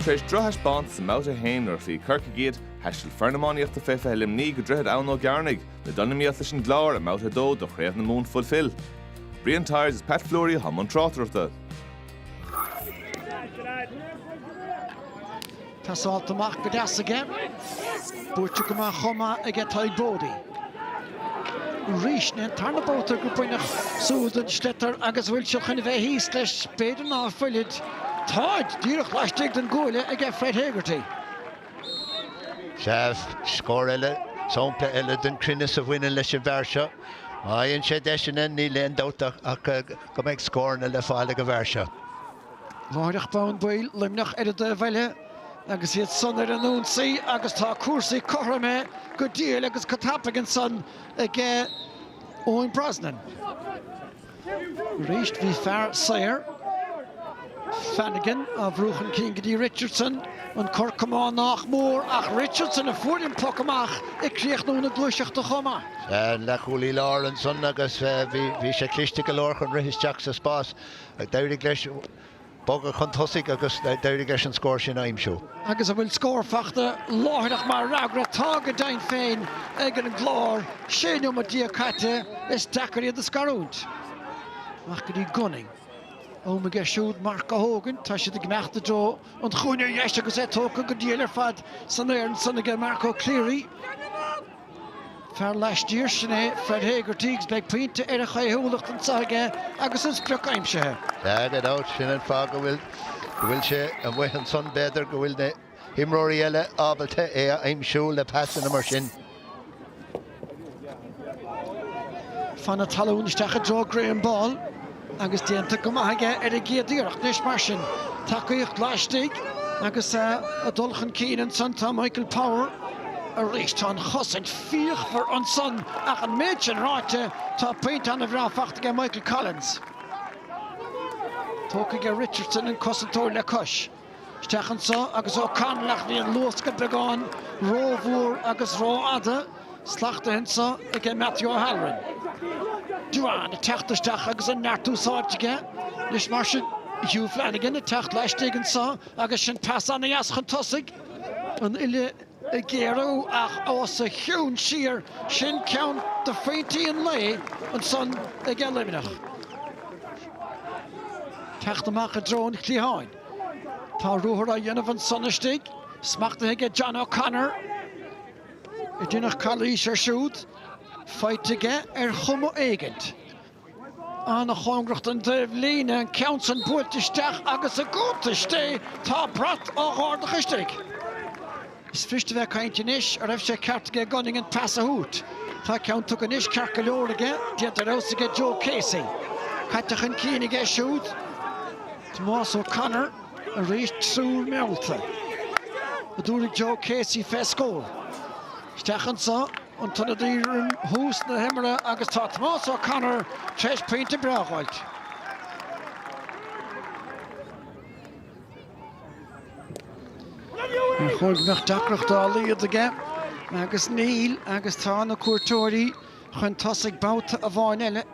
Tar éis drochthaispeáint sa mbabhta a haon nuair a chloígh Corcaigh iad, thaistil foireann iománaíochta fé 20 Luimní go Droichead Abhann Ó gCearnaigh le dul in iomaíocht leis an gClár i mbabhta a dó do Chraobh na Mumhan Fulfil. Brian Tyers is Pat Fleury atá i mbun tráchtaireachta. Tá seolta amach go deas aige. Buaite go maith chomh maith aige Tadhg Boddy. Arís ní hé an tarna babhta gur baineadh siúl den sliotar agus bhfuil siad chun a bheith thíos leis b'fhéidir ná fuilid Táid díreach laistigh den gcuaille aige Fred Hegarty. Sea scór eile, sampla eile den chruinneas a bhaineann leis an bhfear seo. Má fhaigheann sé deiseanna, níl aon dabht ach go mbeidh scóranna le fáil ag an bhfear seo. Láithreach bonn baill Luimneach ar an dtaobh eile agus iad san ar an ionsaí agus tá cúrsaí cothrom go diail agus go tapaidh ansan ag Eoin Brosnan. Arís bhí fear saor, Flanagan, á bhrú chun cinn go dtí Richardson, an cor camáin nách mór ach Richardson a fuair ón bpoc amach ag críochnú na gluaiseachta chomh maith. Leathchúlaí lár ansan agus bhí sé cliste go leor chun rith isteach sa spás D'éirigh leis bogadh chun tosaigh agus d'éirigh leis an scór sin a aimsiú. Agus an bhfuil scór fachta láithreach mar fhreagra? Tá, go deimhin féin, ag an gClár. Sé neomat déag caite, is deacair iad a scarúint. Amach go dtí Gunning. Am aige siúd marc a thógaint. Tá sé ag imeacht i dtreo an chúinne ar dheis agus é tógtha go diail ar fad san aer ansan aige Marco Cleary. Fear laistiar sin é Fred Hegarty agus beidh pointe ar a chaoithiúlacht anseo aige agus an sprioc aimsithe. Agus ar ndóigh sin an fáth go bhfuil go bhfuil sé amuigh ansan b'fhéidir go bhfuil na himreoirí eile ábalta é a aimsiú le pasanna mar sin. Fan na talún isteach i dtreo Graham Ball. agus déanta go maith aige ar an gcéad iarracht anois mar sin. Tacaíocht laistigh agus ag dul chun cinn ansan tá Michael Power arís. Tá an chosaint fíochmhar ansan ach an méid sin ráite tá pointe ana bhreá faighte aige Michael Collins. Tógtha aige Richardson an cosantóir le cois. Isteach anso aige Ó Conaill ach bhí an luascadh beagán rómhór agus rófhada smachtaithe anso ag Matthew O'Halloran. Duane ag teacht isteach agus an neart úsáidte aige anois mar sin. Hugh Flanagan ag teacht laistigh anso agus sin pas ana-dheas chun tosaigh. An uile ag géarú ach os a chionn siúd, sin ceann de phointí an lae ansan aige Luimneach. Teacht amach i dtreo an chliatháin. Tá ruathar á dhéanamh ansan istigh, smachtaithe aige John O'Connor. Déanadh calaois ar siúd, faighte aige ar chuma éigint. An-chóngrach don dtaobh líne, an ceann san buailte isteach agus i gcontúirt, tá brat an gharda chois tí. Is fuirist a bheith ag caint anois a raibh sé ceart aige gan an pas a thabhairt. Tá ceann tugtha anois ceart go leor aige, déanta ar fheabhas aige Joe Casey. Caite chun cinn aige siúd Tomás Ó Connor arís, triúr meallta, a d'fhuaraigh Joe Casey, féach, scaoil isteach anso. an t-ionadaí roim thús na himeartha agus tá Tomás Ó Connor tar éis pointe breá a fháil. Ar chóir go mbeadh deacracht dá laghad aige agus níl agus tá na cuairteoirí chun tosaigh babhta amháin eile.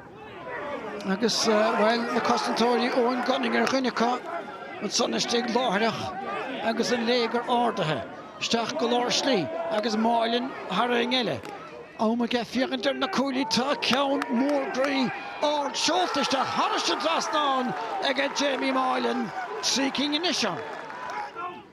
Agus, bhuel, na cosantóirí, Eoin Gunning ar dhuine acu, ansan istigh láithreach agus an léigear ardaithe isteach go lár slí agus Moylan thar aon eile. Am aige féachaint ar na cuaillí, tá ceann mór groí ard seolta isteach thar an dtrasnán aige Jamie Moylan, trí cinn anois ann.